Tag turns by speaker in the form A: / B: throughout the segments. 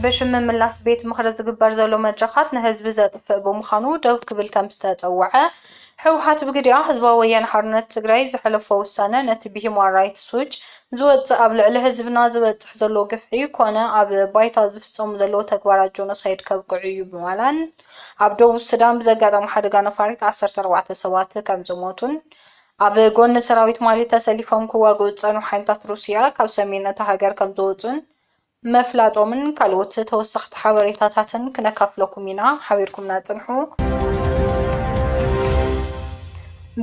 A: ብሽም ምምላስ ቤት ምኽሪ ዝግበር ዘሎ መድረኻት ንህዝቢ ዘጥፍእ ብምዃኑ ደው ክብል ከምዝተፀወዐ ህወሓት ብግዲኣ ህዝባዊ ወያነ ሓርነት ትግራይ ዘሕለፎ ውሳነ ነቲ ብሂማን ራይትስ ዎች ዝወፅእ ኣብ ልዕሊ ህዝብና ዝበፅሕ ዘሎ ግፍዒ ኮነ ኣብ ባይታ ዝፍፀሙ ዘለዉ ተግባራት ጆኖሳይድ ከብቅዕ እዩ ብምባላን ኣብ ደቡብ ሱዳን ብዘጋጠመ ሓደጋ ነፋሪት ዓሰርተ ኣርባዕተ ሰባት ከምዝሞቱን ኣብ ጎኒ ሰራዊት ማሊ ተሰሊፎም ክዋግኡ ዝጸንሑ ሓይልታት ሩስያ ካብ ሰሜን እታ ሃገር ከምዝወጹን ምፍላጦምን ካልኦት ተወሰኽቲ ሓበሬታታትን ክነካፍለኩም ኢና። ሓቢርኩምና ጽንሑ።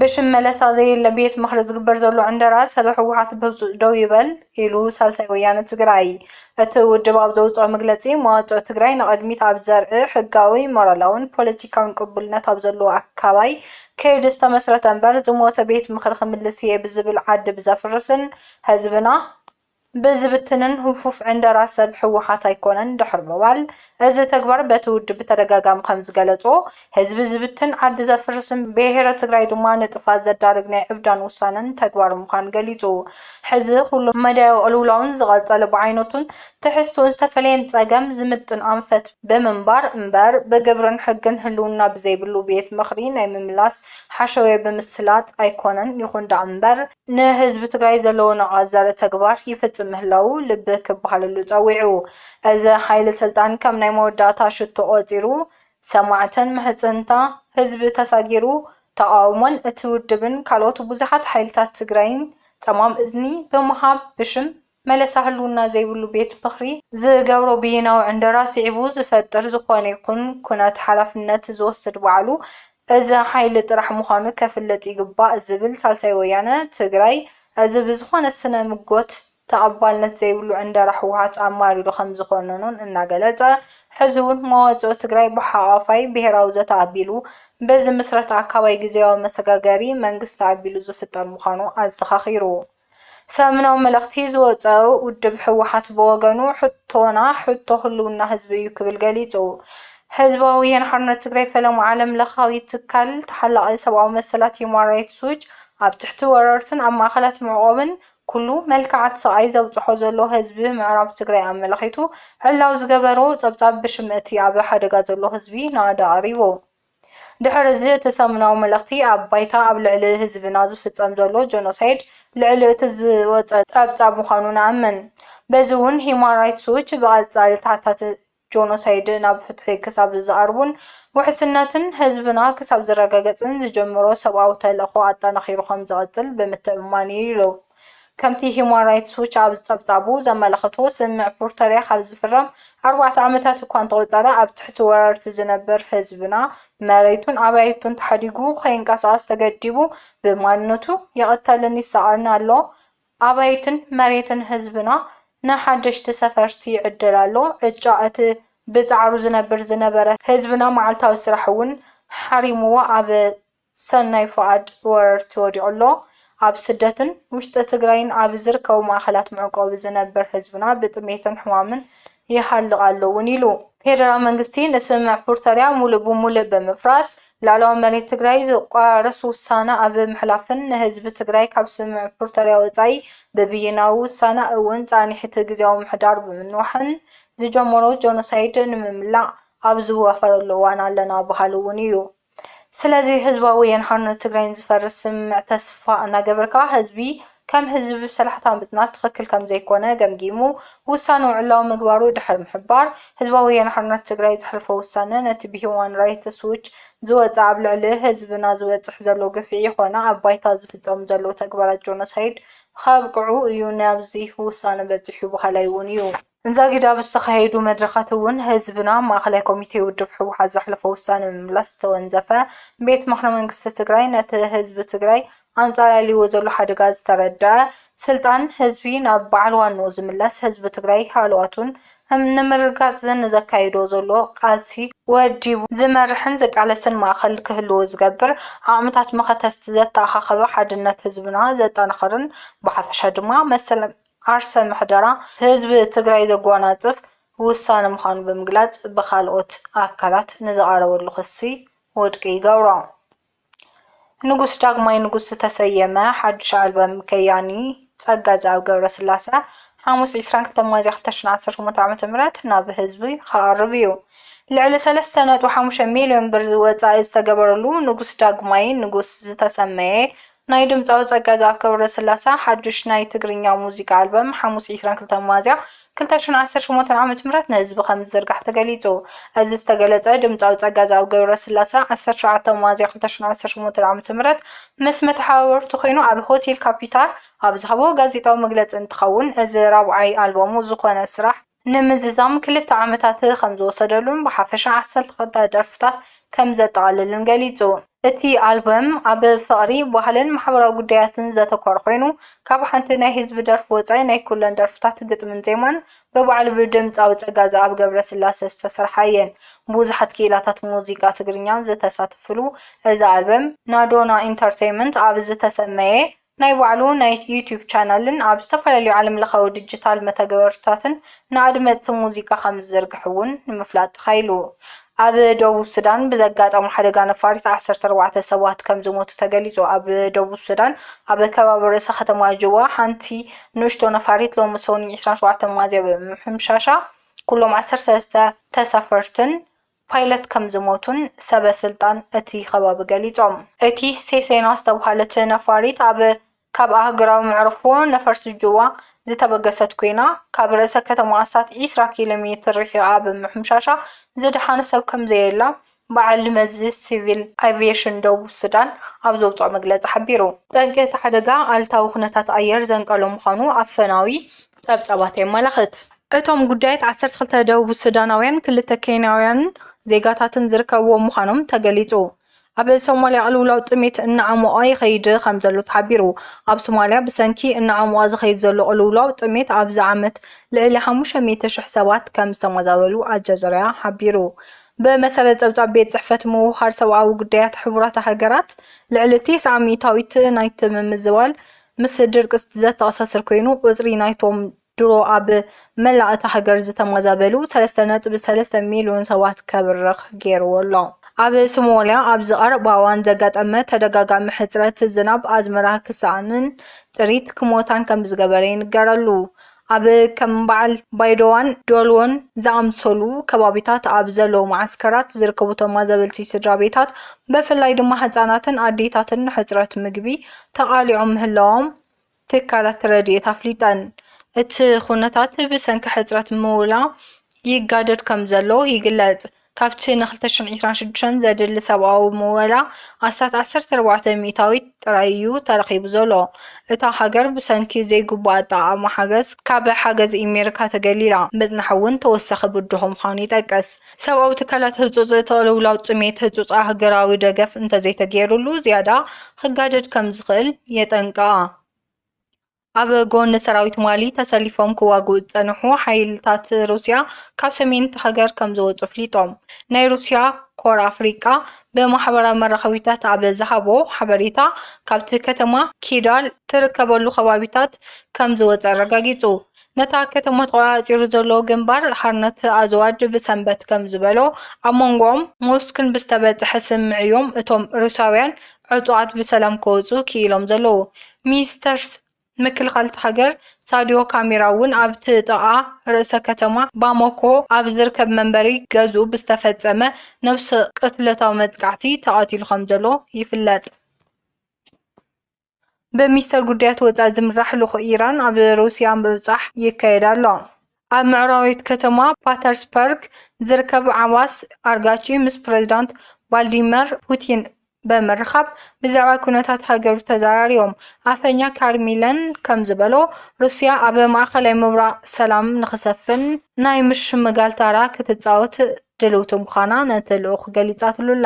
A: ብሽም መለሳ ዘየለ ቤት ምኽሪ ዝግበር ዘሎ ዕንደራ ሰበ ህወሓት ብህፁፅ ደው ይበል። ኢሉ ሳልሳይ ወያነ ትግራይ። እቲ ውድብ ኣብ ዘውፅኦ መግለፂ፣ መዋፅኦ ትግራይ ንቕድሚት ኣብ ዘርኢ ሕጋዊ፣ ሞራላውን ፖለቲካውን ቅቡልነት ኣብ ዘለዎ ኣካባይ ከይዲ ዝተመስረተ እምበር ዝሞተ ቤት ምኽሪ ክምልስ እየ ብዝብል ዓዲ ብዘፍርስን ህዝብና ብዝብትንን ህፉፍ ዕንደራ ሰብ ህወሓት ኣይኮነን ድሕሪ ምባል እዚ ተግባር በቲ ውድብ ብተደጋጋሚ ከምዝገለፆ ህዝቢ ዝብትን ዓዲ ዘፍርስን ብሄረ ትግራይ ድማ ንጥፍኣት ዘዳርግ ናይ ዕብዳን ውሳነን ተግባር ምዃኑ ገሊፁ። ሕዚ ኩሉ መዳያዊ ቅልውላውን ዝቐፀለ ብዓይነቱን ትሕዝትኡን ዝተፈለየን ፀገም ዝምጥን ኣንፈት ብምንባር እምበር ብግብርን ሕግን ህልውና ብዘይብሉ ቤት ምኽሪ ናይ ምምላስ ሓሸውየ ብምስላጥ ኣይኮነን። ይኹን ደኣምበር። ንህዝቢ ትግራይ ዘለዎ ናቕኣ ዘርኢ ተግባር ይፍፅም ምህላዉ ልቢ ክበሃለሉ ፀዊዑ። እዚ ሓይሊ ስልጣን ከም ናይ መወዳእታ ሽቶ ቆፂሩ ሰማዕትን ምሕፅንታ ህዝቢ ተሳጊሩ ተቓውሞን እቲ ውድብን ካልኦት ብዙሓት ሓይልታት ትግራይን ፀማም እዝኒ ብምሃብ ብሽም መለሳ ህልውና ዘይብሉ ቤት ምኽሪ ዝገብሮ ብይናዊ ዕንደራ ስዒቡ ዝፈጥር ዝኾነ ይኹን ኩነት ሓላፍነት ዝወስድ ባዕሉ እዚ ሓይሊ ጥራሕ ምዃኑ ከፍልጥ ይግባእ ዝብል ሳልሳይ ወያነ ትግራይ እዚ ብዝኾነ ስነ ምጎት ተቐባልነት ዘይብሉ ዕንደራ ህወሓት ኣማሪሩ ከምዝኾነኖን እናገለፀ ሕዚውን መዋፅኦ ትግራይ ብሓቛፋይ ብሄራዊ ዘተ ኣቢሉ ብዝምስረት ኣካባይ ግዝያዊ መሰጋገሪ መንግስቲ ኣቢሉ ዝፍጠር ምዃኑ ኣዘኻኺሩ። ሰሙናዊ መልእኽቲ ዝወፀኦ ውድብ ህወሓት ብወገኑ ሕቶና ሕቶ ህልውና ህዝቢ እዩ ክብል ገሊፁ። ህዝባዊ ወያነ ሓርነት ትግራይ ፈለማ ዓለም ለኻዊ ትካል ተሓላቒ ሰብኣዊ መሰላት ሂዩማን ራይትስ ዎች ኣብ ትሕቲ ወረርትን ኣብ ማእኸላት መዕቖብን ኩሉ መልክዓት ስቓይ ዘብፅሖ ዘሎ ህዝቢ ምዕራብ ትግራይ ኣመላኺቱ ዕላዊ ዝገበሮ ፀብፃብ ብሽም እቲ ኣብ ሓደጋ ዘሎ ህዝቢ ናእዳ ኣቕሪቡ። ድሕሪ እዚ እቲ ሰሙናዊ መልእኽቲ ኣብ ባይታ ኣብ ልዕሊ ህዝብና ዝፍፀም ዘሎ ጆኖሳይድ ልዕሊ እቲ ዝወፀ ፀብፃብ ምዃኑ ንኣምን። በዚ እውን ሂዩማን ራይትስ ዎች ብቐፃሊ ተሓታቲ ጆኖሳይድ ናብ ፍትሒ ክሳብ ዝቐርቡን ውሕስነትን ህዝብና ክሳብ ዝረጋገፅን ዝጀመሮ ሰብኣዊ ተልእኾ ኣጠናኺሩ ከምዝቕፅል ብምትእምማን እዩ ኢሉ። ከምቲ ሂዩማን ራይትስ ዎች ኣብ ጸብጻቡ ዘመላኽቶ፣ ስምምዕ ፕሪቶርያ ካብ ዝፍረም ኣርባዕተ ዓመታት እኳ እንተቖጸረ፣ ኣብ ትሕቲ ወረርቲ ዝነብር ህዝብና መሬቱን ኣባይቱን ተሓዲጉ ከይንቀሳቐስ ተገዲቡ ብማንነቱ ይቕተልን ይሳቐን ኣሎ። ኣባይትን መሬትን ህዝብና ንሓደሽቲ ሰፈርቲ ይዕደል ኣሎ። ዕጫ እቲ ብጻዕሩ ዝነብር ዝነበረ ህዝብና መዓልታዊ ስራሕ እውን ሓሪሙዎ ኣብ ሰናይ ፉኣድ ብወረርቲ ወዲቑ ኣሎ። ኣብ ስደትን ውሽጢ ትግራይን ኣብ ዝርከቡ ማእኸላት መዕቆቢ ዝነብር ህዝብና ብጥሜትን ሕማምን ይሃልቕ ኣሎ እውን ኢሉ። ፌደራል መንግስቲ ንስምምዕ ፕሪቶርያ ሙሉእ ብሙሉእ ብምፍራስ ልዕላዊ መሬት ትግራይ ዝቋረስ ውሳነ ኣብ ምሕላፍን ንህዝቢ ትግራይ ካብ ስምምዕ ፕሪቶርያ ወፃኢ ብብይናዊ ውሳነ እውን ፃኒሕቲ ግዝያዊ ምምሕዳር ብምንዋሕን ዝጀመሮ ጆኖሳይድ ንምምላእ ኣብ ዝዋፈረሉ እዋን ኣለና በሃሊ እውን እዩ። ስለዚ ህዝባዊ ወያነ ሓርነት ትግራይ ንዝፈርስ ስምምዕ ተስፋ እናገበርካ ህዝቢ ከም ህዝቢ ብሰላሕታ ምፅናት ትኽክል ከምዘይኮነ ገምጊሙ ውሳንኡ ዕላዊ ምግባሩ ድሕሪ ምሕባር ህዝባዊ ወያነ ሓርነት ትግራይ ዘሕለፎ ውሳነ ነቲ ብሂውማን ራይትስ ዎች ዝወፀ ኣብ ልዕሊ ህዝብና ዝበፅሕ ዘሎ ግፍዒ ኮነ ኣብ ባይታ ዝፍፀሙ ዘለዉ ተግባራት ጆኖሳይድ ኸብቅዑ እዩ ናብዚ ውሳነ በፂሑ በሃላይ እውን እዩ። እንዛጊድ ኣብ ዝተኻየዱ መድረኻት እውን ህዝብና ኣብ ማእኸላይ ኮሚቴ ውድብ ህወሓት ዘሕለፎ ውሳነ ምምላስ ዝተወንዘፈ ቤት ምኽሪ መንግስቲ ትግራይ ነቲ ህዝቢ ትግራይ ኣንፃላልይዎ ዘሎ ሓደጋ ዝተረደኣ ስልጣን ህዝቢ ናብ በዓል ዋንኡ ዝምለስ ህዝቢ ትግራይ ሃለዋቱን ንምርግጋፅ ንዘካይዶ ዘሎ ቃልሲ ወዲቡ ዝመርሕን ዝቃለስን ማእኸል ክህልዎ ዝገብር ዓቕምታት መኸተስቲ ዘተኣኻኸበ ሓድነት ህዝብና ዘጠናኽርን ብሓፈሻ ድማ መሰል ዓርሰ ምሕደራ ህዝቢ ትግራይ ዘጓናፅፍ ውሳነ ምዃኑ ብምግላፅ ብኻልኦት ኣካላት ንዝቐረበሉ ክሲ ውድቂ ይገብሮ። ንጉስ ዳግማይ ንጉስ ዝተሰየመ ሓዱሽ ኣልበም ከያኒ ፀጋዝኣብ ገብረስላሰ ሓሙስ ዕስራን ክልተን ሚያዝያ ክልተ ሽሕን ዓሰርተ ሸሞንተ ዓመተ ምህረት ናብ ህዝቢ ክቐርብ ኢዩ። ልዕሊ ሰለስተ ነጥቢ ሓሙሽተ ሚሊዮን ብር ወፃኢ ዝተገበረሉ ንጉስ ዳግማይ ንጉስ ዝተሰመየ ናይ ድምጻዊ ጸጋዝኣብ ገብረስላሰ ሓዱሽ ናይ ትግርኛ ሙዚቃ ኣልበም ሓሙስ ዕስራን ክልተን ሚያዝያ ክልተ ሽሕን ዓሰርተ ሸሞንተን ዓመተ ምህረት ንህዝቢ ከምዝዝርጋሕ ተገሊጹ። እዚ ዝተገለጸ ድምጻዊ ጸጋዝኣብ ገብረስላሰ ዓሰርተ ሸውዓተ ሚያዝያ ክልተ ሽሕን ዓሰርተ ሸሞንተን ዓመተ ምህረት ምስ መተሓባበርቱ ኮይኑ ኣብ ሆቴል ካፒታል ኣብ ዝሃቦ ጋዜጣዊ መግለጺ እንትኸውን እዚ ራብዓይ ኣልበሙ ዝኾነ ስራሕ ንምዝዛም ክልተ ዓመታት ከም ዝወሰደሉን ብሓፈሻ ዓሰርተ ክልተ ደርፍታት ከም ዘጠቓልልን ገሊጹ። እቲ ኣልበም ኣብ ፍቕሪ፣ ባህልን ማሕበራዊ ጉዳያትን ዘተኮረ ኮይኑ፣ ካብ ሓንቲ ናይ ህዝቢ ደርፊ ወጻኢ ናይ ኩለን ደርፍታት ግጥምን ዜማን ብባዕሉ ብድምጻዊ ጸጋዝኣብ ገብረስላሰ ዝተሰርሓ እየን። ብዙሓት ክኢላታት ሙዚቃ ትግርኛ ዝተሳተፍሉ እዚ ኣልበም፣ ናዶና ኢንተርተይመንት ኣብ ዝተሰመየ፣ ናይ ባዕሉ ናይ ዩቱብ ቻናልን ኣብ ዝተፈላለዩ ዓለም ለኻዊ ድጅታል መተግበርታትን ንኣድመፅቲ ሙዚቃ ከምዝዝርግሕ እውን ንምፍላጥ ተኻኢሉ። ኣብ ደቡብ ሱዳን ብዘጋጠሙ ሓደጋ ነፋሪት ዓሰርተ ኣርባዕተ ሰባት ከምዝሞቱ ተገሊፁ ኣብ ደቡብ ሱዳን ኣብ ከባቢ ርእሰ ከተማ ጁባ ሓንቲ ንእሽቶ ነፋሪት ሎሚ ሰኑይ ዕስራን ሸውዓተን ሚያዝያ ብምምሕምሻሻ ኩሎም ዓሰርተ ሰለስተ ተሳፈርትን ፓይለት ከምዝሞቱን ሰበ ስልጣን እቲ ከባቢ ገሊፆም። እቲ ሴሴና ዝተብሃለት ነፋሪት ኣብ ካብ ኣህጉራዊ መዕርፎ ነፈርቲ ጁባ ዝተበገሰት ኮይና፣ ካብ ርእሰ ከተማ ኣስታት ዒስራ ኪሎ ሜትር ርሒቓ ብምምሕምሻሻ ዝደሓነ ሰብ ከምዘየላ በዓል መዚ ሲቪል ኣቪየሽን ደቡብ ሱዳን ኣብ ዘውፅኦ መግለፂ ሓቢሩ። ጠንቂ እቲ ሓደጋ ኣሉታዊ ኩነታት ኣየር ዘንቀሎ ምዃኑ ኣፈናዊ ፀብፃባት የመላኽት። እቶም ጉዳያት ዓሰርተ ክልተ ደቡብ ሱዳናውያንን ክልተ ኬንያውያን ዜጋታትን ዝርከብዎም ምዃኖም ተገሊጹ። ኣብ ሶማልያ ቅልውላው ጥሜት እናዓሞቐ ይኸይድ ከምዘሎ ተሓቢሩ። ኣብ ሶማልያ ብሰንኪ እናዓሞቐ ዝኸይድ ዘሎ ቅልውላው ጥሜት ኣብዚ ዓመት ልዕሊ ሓሙሽተ ሚእቲ ሽሕ ሰባት ከምዝተመዛበሉ ኣልጀዘርያ ሓቢሩ። ብመሰረት ጸብጻብ ቤት ጽሕፈት ምውህሃድ ሰብኣዊ ጉዳያት ሕቡራት ሃገራት፣ ልዕሊ ቴስዓ ሚእታዊት ናይቲ ምምዝባል ምስ ድርቂ ዘተኣሳስር ኮይኑ፣ ቁጽሪ ናይቶም ድሮ ኣብ መላእ እታ ሃገር ዝተመዛበሉ ሰለስተ ነጥቢ ሰለስተ ሚልዮን ሰባት ከብርኽ ገይርዎ ኣሎ። ኣብ ሶማልያ ኣብዚ ቀረባ እዋን ዘጋጠመ ተደጋጋሚ ሕጽረት ዝናብ ኣዝመራ ክሰኣንን ጥሪት ክሞታን ከምዝገበረ ይንገረሉ። ኣብ ከም በዓል ባይዶዋን ዶሎን ዝኣምሰሉ ከባቢታት ኣብ ዘለዉ መዓስከራት ዝርከቡ ተማዘበልቲ ስድራቤታት ብፍላይ ድማ ህጻናትን ኣዴታትን ንሕጽረት ምግቢ ተቓሊዖም ምህላዎም ትካላት ረድኤት ኣፍሊጠን። እቲ ኩነታት ብሰንኪ ሕጽረት ምውላ ይጋደድ ከምዘሎ ይግለጽ። ካብቲ ን ክልተ ሽሕን ዒስራን ሽዱሽተን ዘድሊ ሰብኣዊ ምወላ ኣስታት ዓሰርተ ኣርባዕተ ሚእታዊት ጥራይ እዩ ተረኺቡ ዘሎ። እታ ሃገር ብሰንኪ ዘይግቡእ ኣጠቓቕማ ሓገዝ ካብ ሓገዝ ኢሜሪካ ተገሊላ ምጽናሕ'ውን ተወሳኺ ብድሆ ምዃኑ ይጠቅስ። ሰብኣዊ ትካላት ህጹጽ ተቕልውላው ጥሜት ህጹጽ ኣህገራዊ ደገፍ እንተዘይተገይሩሉ ዝያዳ ክጋደድ ከም ዝኽእል የጠንቅቓ። ኣብ ጎኒ ሰራዊት ማሊ ተሰሊፎም ክዋግኡ ዝጸንሑ ሓይልታት ሩስያ ካብ ሰሜን እታ ሃገር ከም ዝወጹ ኣፍሊጦም። ናይ ሩስያ ኮር ኣፍሪቃ ብማሕበራዊ መራኸቢታት ኣብ ዝሃቦ ሓበሬታ ካብቲ ከተማ ኪዳል ትርከበሉ ከባቢታት ከም ዝወጸ ኣረጋጊጹ። ነታ ከተማ ተቖጻጺሩ ዘሎ ግንባር ሓርነት ኣዝዋድ ብሰንበት ከም ዝበሎ፣ ኣብ መንጎኦም ሞስክን ብዝተበጽሐ ስምምዕ'ዮም እቶም ሩስያውያን ዕጡቓት ብሰላም ክወጽኡ ክኢሎም ዘለዉ። ሚኒስተር ምክልኻል እታ ሃገር ሳድዮ ካሚራ'ውን ኣብቲ ጥቓ ርእሰ ከተማ ባማኮ ኣብ ዝርከብ መንበሪ ገዝኡ ብዝተፈጸመ ነብሰ ቅትለታዊ መጥቃዕቲ ተቐቲሉ ከም ዘሎ ይፍለጥ። ብሚኒስተር ጉዳያት ወጻኢ ዝምራሕ ልኡኽ ኢራን ኣብ ሩስያ ምብጻሕ ይካየድ ኣሎ። ኣብ ምዕራባዊት ከተማ ፓተርስፐርግ ዝርከብ ዓባስ ኣርጋቺ ምስ ፕረዚዳንት ቫልዲመር ፑቲን ብምርኻብ ብዛዕባ ኩነታት ሃገሩ ተዘራሪቦም። ኣፈኛ ካሪሚለን ከም ዝበሎ፣ ሩስያ ኣብ ማእከላይ ምብራቕ ሰላም ንኽሰፍን ናይ ምሽምጋል ታራ ክትጻወት ድልውቲ ምዃና ነቲ ልኡኽ ገሊጻትሉ'ላ።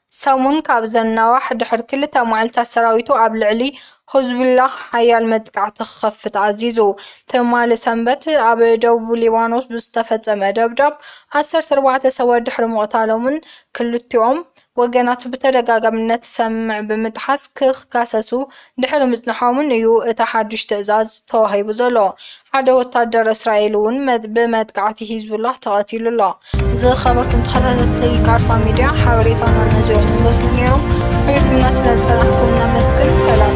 A: ሰሙን ካብ ዘናዋሕ ድሕሪ ክልተ መዓልታት ሰራዊቱ ኣብ ልዕሊ ሕዝቡላህ ሓያል መጥቃዕቲ ክኸፍት ኣዚዙ። ትማሊ ሰንበት ኣብ ደቡብ ሊባኖስ ብዝተፈጸመ ደብዳብ ዓሰርተ ኣርባዕተ ሰባት ድሕሪ ምቕታሎምን ክልቲኦም ወገናት ብተደጋጋሚ ነቲ ሰምምዕ ብምጥሓስ ክካሰሱ ድሕሪ ምጽንሖምን እዩ እቲ ሓድሽ ትእዛዝ ተዋሂቡ ዘሎ። ሓደ ወታደር እስራኤል እውን ብመጥቃዕቲ ሂዝቡላህ ተቐቲሉ ኣሎ። ዝኸበርኩም ተኸታተልቲ ቃርፋ ሚድያ ሓበሬታና ነዚኦም ዝመስሉ ነይሮም። ኣቢልኩምና ስለ ዝጸናሕኩም ነመስግን። ሰላም።